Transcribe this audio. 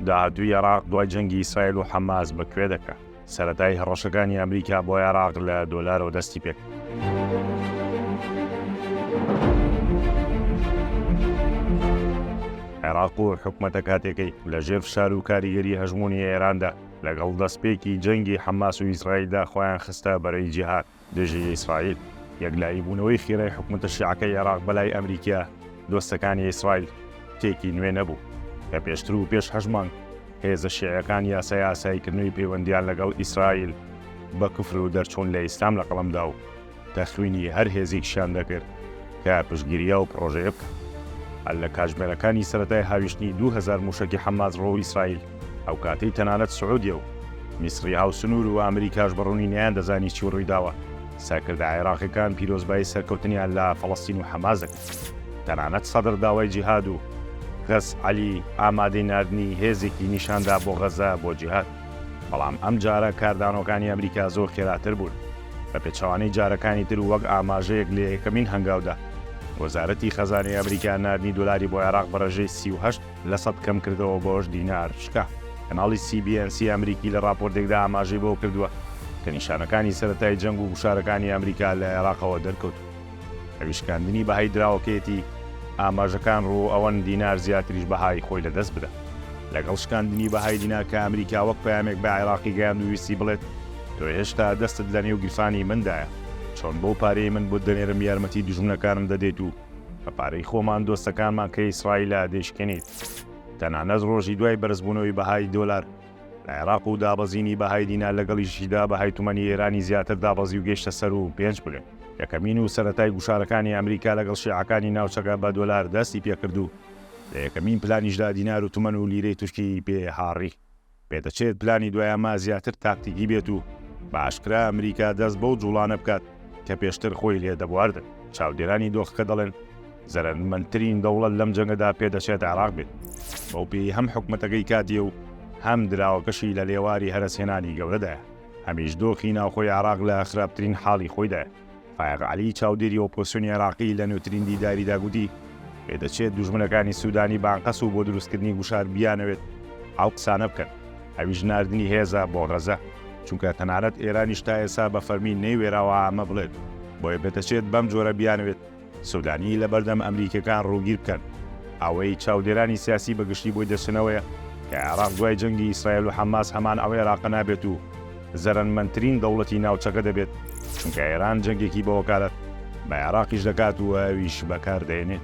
داهاتووی عێراق دوای جەنگی ئیسرائیل و حەماس بە کوێ دەکا؟ سەرەتای هەڕەشەکانی ئەمریکا بۆ عێراق لە دۆلارەوە دەستی پێکرد. عێراق و حکومەتە کاتێکەی لە ژێر فشار و کاریگەری هەژمونی ئێراندا لەگەڵ دەستپێکی جەنگی حەماس و ئیسرائیلدا خۆیان خستە بەرەی جیهاد دژی ئیسرائیل، یەکلایی بوونەوەی خێرای حکومەتە شیعەکەی عێراق بەلای ئەمریکییە دۆستەکانی ئیسرائیل شتێکی نوێ نەبوو، کە پێشتر و پێش هەشت مانگ هێزە شیعەکان یاسای ئاساییکردنەوەی پەیوەندییان لەگەڵ ئیسرائیل بە کفر و دەرچوون لە ئیسلام لە قەڵەم دا و تەخوینی هەر هێزێکیشیان دەکرد کە پشتگیری ئەو پڕۆژەیە بکات. هەر لە کاتژمێرەکانی سەرەتای هاویشتنی دوو هەزار مووشەکی حەماس ڕوو ئیسرائیل، ئەو کاتەی تەنانەت سعودیە و میسڕی هاوسنوور و ئەمریکاش بە ڕوونی نەیاندەزانی چی ڕوویداوە، سەرکردە عێراقیەکان پیرۆزبایی سەرکەوتنیان لە فەڵەستین و حەماس دەکرد. تەنانەت سەدر داوای جیهاد و غەز عەلی ئامادەی ناردنی هێزێکی نیشان دا بۆ غەزە بۆ جیهاد. بەڵام ئەم جارە کاردانەوەکانی ئەمریکا زۆر خێراتر بوون. بە پێچەوانەی جارەکانی تر و وەک ئاماژەیەک لە یەکەمین هەنگاودا، وەزارەتی خەزانەی ئەمریکا ناردنی دۆلاری بۆ عێراق بە ڕێژەی سی و هەشت، لە سەد کەم کردەوە بۆ هەشت دینار شکا. کەناڵی سی بی ئێن سی ئەمریکی لە ڕاپۆرتێکدا ئاماژەی بەوە کردووە کە نیشانەکانی سەرەتای جەنگ و گوشارەکانی ئەمریکا لە عێراقەوە دەرکەوتوون ئەویش شکاندنی بەهای دراوەکەیەتی، ئاماژەکان ڕوو ئەوەن دینار زیاتریش بەهای خۆی لەدەست بدات. لەگەڵ شکاندنی بەهای دینار کە ئەمریکا وەک پەیامێک بە عێراقی گەیاند و ویستی بڵێت تۆ هێشتا دەستت لەنێو گیرفانی مندایە، چۆن بەو پارەی من بۆت دەنێرم یارمەتی دوژمنەکانم دەدەیت و بە پارەی خۆمان دۆستەکانمان کە ئیسرائیلە دەیشکێنین. تەنانەت ڕۆژی دوای بەرزبوونەوەی بەهای دۆلار لە عێراق و دابەزینی بەهای دینار لەگەڵیشیدا بەهای تومەنی ئێرانی زیاتر دابەزی و گەیشتە سەر و پێنج بلێن. یەکەمین و سەرەتای گوشارەکانی ئەمریکا لەگەڵ شیعەکانی ناوچەکە بە دۆلار دەستی پێکرد و لە یەکەمین پلانیشدا دینار و تومەن و لیرەی تورکی پێ هاڕی. پێدەچێت پلانی دوای ئەمە زیاتر تاکتیکی بێت و بە ئاشکرا ئەمریکا دەست بەو جوڵانە بکات کە پێشتر خۆی لێ دەبواردن چاودێرانی دۆخەکە دەڵێن زەرەنمەندترین دەوڵەت لەم جەنگەدا پێدەچێت عراق بێت بەو پێی هەم حکومەتەکەی کاتیە و هەم دراوەکەشی لە لێواری هەرەسهێنانی گەورەدایە هەمیش دۆخی ناوخۆی عراق لە خراپترین حاڵی خۆیدایە فایەق عەلی، چاودێری ئۆپۆزسیۆنی عێراقی لە نوێترین دیداریدا گوتی، پێدەچێت دوژمنەکانی سوودانی بانقەس و بۆ دروستکردنی گوشار بیانەوێت ئەو قسانە بکەن، ئەویش ناردنی هێزە بۆ غەزە، چونکە تەنانەت ئێرانیش تا ئێستا بە فەرمی نەیوێراوە ئەمە بڵێت، بۆیە پێدەچێت بەم جۆرە بیانەوێت. سودانی لەبەردەم ئەمریکیەکان ڕووگیر بکەن. ئەوەی چاودێرانی سیاسی بە گشتی بۆی دەچنەوەیە کە عێراق دوای جەنگی ئیسرائیل و حەماس هەمان ئەو عێراقە نابێت و زەرەنمەندترین دەوڵەتی ناوچەکە دەبێت چونکە ئێران جەنگێکی بە وەکالەت بە عێراقیش دەکات و ئەویش بەکار دەێنێت.